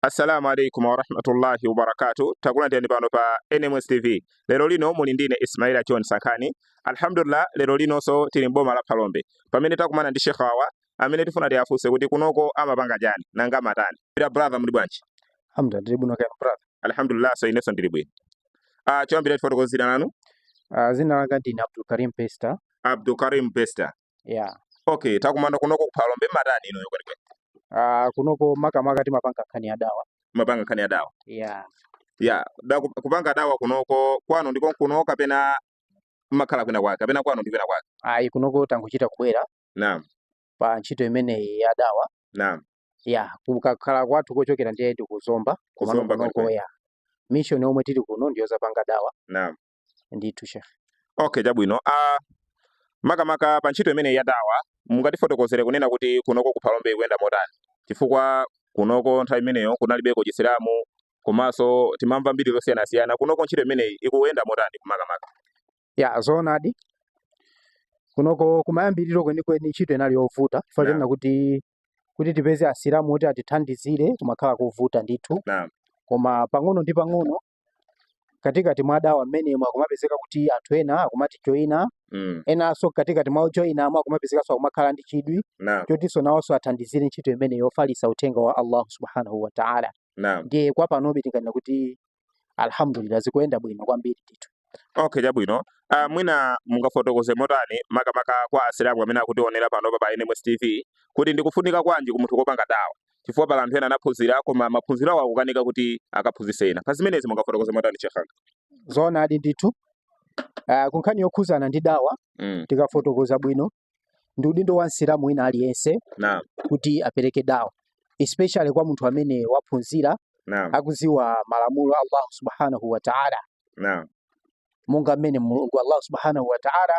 assalamu alaikum warahmatullahi wabarakatu takulandirani pano pa nms tv lero lino muli ndine ismaila john sankhani alhamdulillah lero linonso tili mboma la phalombe pamene takumana ndi sheikh awawa amene tifuna tiwafunse kuti kunoko amapanga chani nanga amatani ira brother muli bwanji hamda ndili bwino kaya brother alhamdulillah inenso ndili bwino ah choyambira tifotokozereni dzina lanu Ah, dzina langa ndine abdul karim bester abdul karim bester yeah okay takumana kunoko ku phalombe mmatani inuyo kwenikweni uh, kunoko makamaka timapanga nkhani ya dawa mmapanga nkhani ya dawa yeah yeah da kup- kupanga dawa kunoko kwanu ndi konkuno kapena mmakhala kwina kwake kapena kwanu ndi kwina kwake ayi kunoko tangochita kubwera naam pa ntchito imeneyi ya dawa naam ya kukhala kwathu kochokera ndiye ndi kuzomba komano Kuzomba kunoko kwenikweni. ya mission yomwe tili kuno ndiyozapanga dawa naam ndithu shekhe okay chabwino uh, makamaka pa ntchito imeneyi ya dawa mungatifotokozere kunena kuti kunoko ku phalombe ikuyenda motani chifukwa kunoko nthawi imeneyo kunalibeko chisilamu komanso timamva mbiri zosiyanasiyana kunoko ntchito imeneyi ikuyenda motani kumakamaka ya zoonadi kunoko kumayambiriro kwenikweni ntchito inali yovuta chifukwa Naam. chonena kuti kuti tipeze asilamu oti atithandizire kumakhala kovuta ndithu Naam. koma pang'ono ndi pang'ono katikati mwa dawa mmenemo akumapezeka kuti anthu ena akumatijoyina mm. enanso katikati mwa ojoyinamo akumapezekanso akumakhala ndi chidwi Naam. chotinso nawonso athandizire ntchito imeneyi yofalitsa uthenga wa allahu subhanahu wa taala Naam. ndiye kwa panobe tinganena kuti alhamdulillah zikuyenda bwino kwambiri ndithu okay chabwino uh, mwina mungafotokoze motani makamaka kwa asilamu amene akutionera panopa pa nms tv kuti ndikufunika kwanji kwa munthu kopanga dawa chifukwa pali anthu ena anaphunzira koma maphunziro awo akukanika kuti akaphunzitse ena. Pa zimenezi mungafotokoze motani Sheikh wanga? Zoonadi ndithu. Uh, ku nkhani yokhuzana ndi dawa mm. tikafotokoza bwino ndi udindo wa msilamu wina aliyense Naam. kuti apereke dawa especially kwa munthu amene waphunzira Naam. akuziwa malamulo a Allah subhanahu wa ta'ala Naam. monga mmene mulungu Allah subhanahu wa ta'ala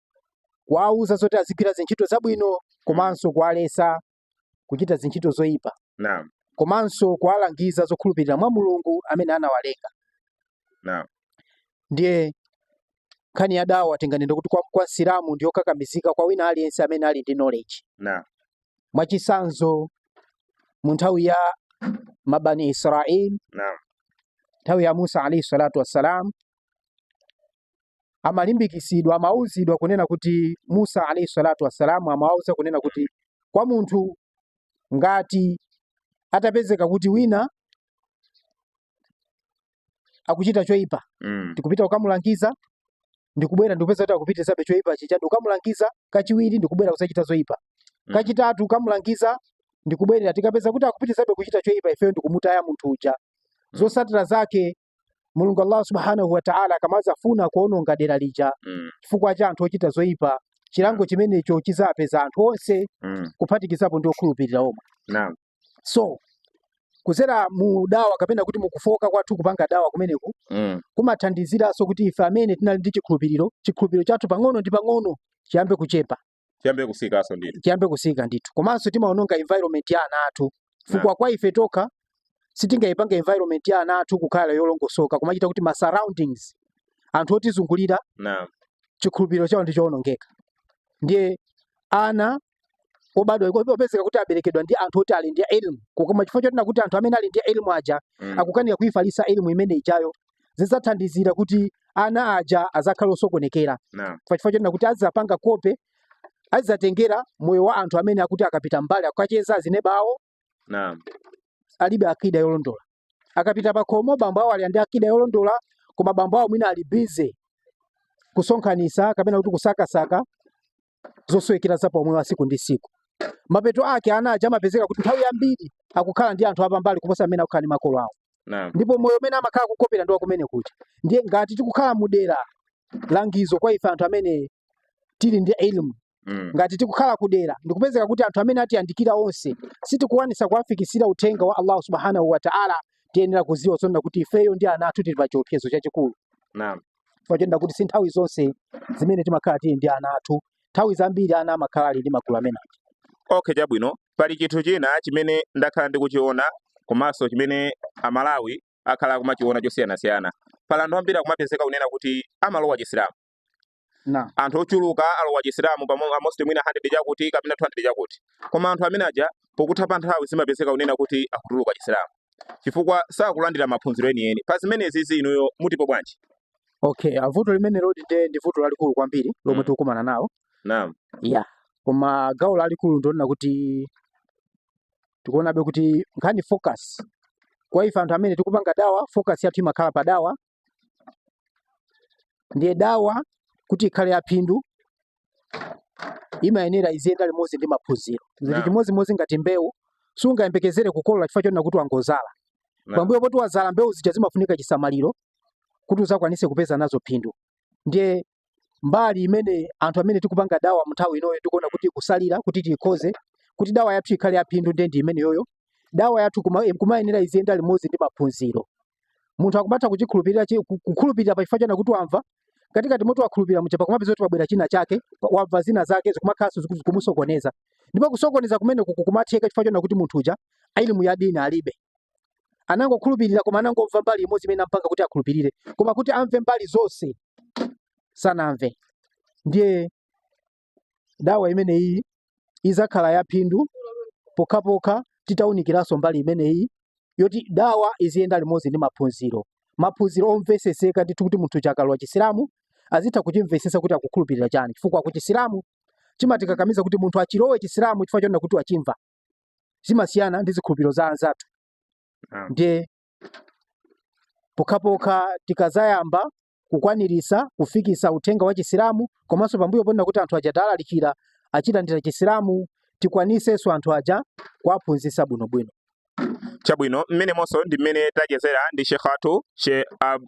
kuwauza zoti azigwira zintchito zabwino komanso kuwalesa kuchita zintchito zoyipa Naam. komanso kuwalangiza zokhulupirira mwa mulungu amene anawalenga Naam. ndiye nkhani ya dawa tinganene kuti kwa, kwa msilamu ndi yokakamizika kwa wina aliyense amene ali ndi knowledge Naam. mwachitsanzo mu nthawi ya mabani israil Naam. nthawi ya musa alaihi salatu wassalam amalimbikitsidwa amauzidwa kunena kuti musa alaihi salatu wassalamu amawauza kunena kuti kwa munthu ngati atapezeka kuti wina akuchita choipa Mm. ndikupita kukamulangiza ndikubwera ndikupeza kuti akupitirizabe choipa chija ndikukamulangiza kachiwiri ndikubwera kusachita zoipa Mm. kachitatu kukamulangiza ndikubwerera tikapeza kuti akupitirizabe kuchita choipa ifeyo ndikumutaya munthu uja zotsatira zake mulungu allah subhanahu wataala akamadzafuna kuononga dera lija Mm. chifukwa cha anthu ochita zoyipa chilango chimenecho chidzapeza anthu onse Mm. kuphatikizapo ndi okhulupirira omwe Naam. so kudzera mu dawa kapena kuti mukufooka kwathu kupanga dawa kumeneku Mm. kumathandiziranso kuti ife amene tinali ndi chikhulupiriro chikhulupiriro chathu pang'ono ndi pang'ono chiyambe kuchepa chiyambe kutsikanso ndithu chiyambe kutsika ndithu komanso timaononga environment ya ana athu chifukwa kwa ife tokha tingayipange environment ya ana athu kukhala yolongosoka kumachita kuti ma surroundings anthu otizungulira naam chikhulupiriro chawo ndi chowonongeka ndiye ana obadwa iko- opezeka kuti aberekedwa ndi anthu oti ali ndi elimu koma chifukwa chonena kuti anthu amene ali ndi elimu aja Mm. akukanika kuifalitsa elimu imene ijayo zidzathandizira kuti ana aja adzakhale osokonekera Naam. pa chifukwa chonena kuti azidzapanga kope azidzatengera moyo wa anthu amene oti akapita kumbali kukacheza azineba wawo Naam. alibe akida yolondola akapita pakhomo bambo awo ali ndi akida yolondola koma bambo awo mwina ali bize kusonkhanitsa kapena kuti kusakasaka zosowekera za paumoyo wa tsiku ndi tsiku. Mapeto ake ana aja amapezeka kuti nthawi yambiri akukhala ndi anthu apambali kuposa amene akukhala ndi makolo awo, Naam. ndipo moyo umene amakhala kukopera ndi wakumene kuja. Ndiye ngati tikukhala mu dera langizo kwa ife anthu amene tili ndi ilmu Mm. ngati tikukhala kudera ndikupezeka kuti anthu amene atiyandikira onse sitikukwanitsa kuwafikitsira uthenga wa allahu subhanahu wataala tiyenera kudziwa zonena kuti ifeyo ndi ana athu tili pa chiopsezo chachikulu Naam. chifukwa chonena kuti si nthawi zonse zimene timakhala tili ndi ana athu nthawi zambiri ana amakhala ali ndi magulu amene aja okay chabwino pali chinthu china chimene ndakhala ndikuchiona komanso chimene amalawi akhala akumachiona chosiyanasiyana pali anthu ambiri akumapezeka kunena kuti amalowa chisilamu anthu ochuluka alowa chisilamu pamo- almost mwina 100 chakuti kapena 200 chakuti koma anthu amene aja pokutha pa nthawi zimapezeka kunena kuti akutuluka chisilamu chifukwa sakulandira maphunziro enieni pa zimenezizi inuyo mutipo bwanji? okay ah, vuto limenelodi nde ndi vuto lalikulu kwambiri lomwe Mm. tikukumana nawo naam ya koma gawo lalikulu ndilonena kuti tikuonabe kuti nkhani focus kwa ife anthu amene tikupanga dawa focus yathu imakhala pa dawa ndiye dawa kuti ikhale yaphindu imayenera iziyenda limodzi ndi maphunziro zili chimodzimodzi ngati mbewu sungayembekezere kukolola chifukwa chonena kuti wangozala pambuyo poti wazala mbewu zija zimafunika chisamaliro kuti uzakwanise kupeza nazo phindu ndiye mbali imene anthu amene tikupanga dawa mnthawi inoyo tikuona kuti ikusalira kuti tikhoze kuti dawa yathu ikhale yaphindu ndiye ndi imeneyoyo dawa yathu kuma- eh, kumayenera iziyenda limodzi ndi maphunziro munthu akumatha kuchikhulupirira chi- ku- kukhulupirira pa chifukwa chona kuti wamva katikati moti wakhulupirira muja pakumapeza kuti pabwera china chake pa- wamva zina zake zikumakhalanso ziku- zikumusokoneza ndipo kusokoneza kumeneku kumatheka chifukwa chona kuti munthu uja ilimu ya dini alibe anangokhulupirira koma anangomva mbali imodzi imene ampanga kuti akhulupirire koma kuti amve mbali zonse sanamve ndiye dawa imeneyi izakhala yaphindu pokhapokha titawunikiranso mbali imeneyi yoti dawa iziyenda limodzi ndi maphunziro maphunziro omveseseka ndithu kuti munthu akalowa chisilamu azitha kuchimvesesa kuti akukhulupirira chani chifukwa ku chisilamu chimatikakamiza kuti munthu achilowe chisilamu chifukwa chonena kuti wachimva zimasiyana ndi zikhulupiriro za anzathu ndiye pokhapokha tikazayamba kukwaniritsa kufikisa uthenga wa chisilamu komanso pambuyo ponena kuti anthu aja talalikira achilandira chisilamu tikwanisenso anthu aja kuwaphunzitsa bwinobwino chabwino mmenemo ndi mmene tachezera ndi shekh athu she Ab-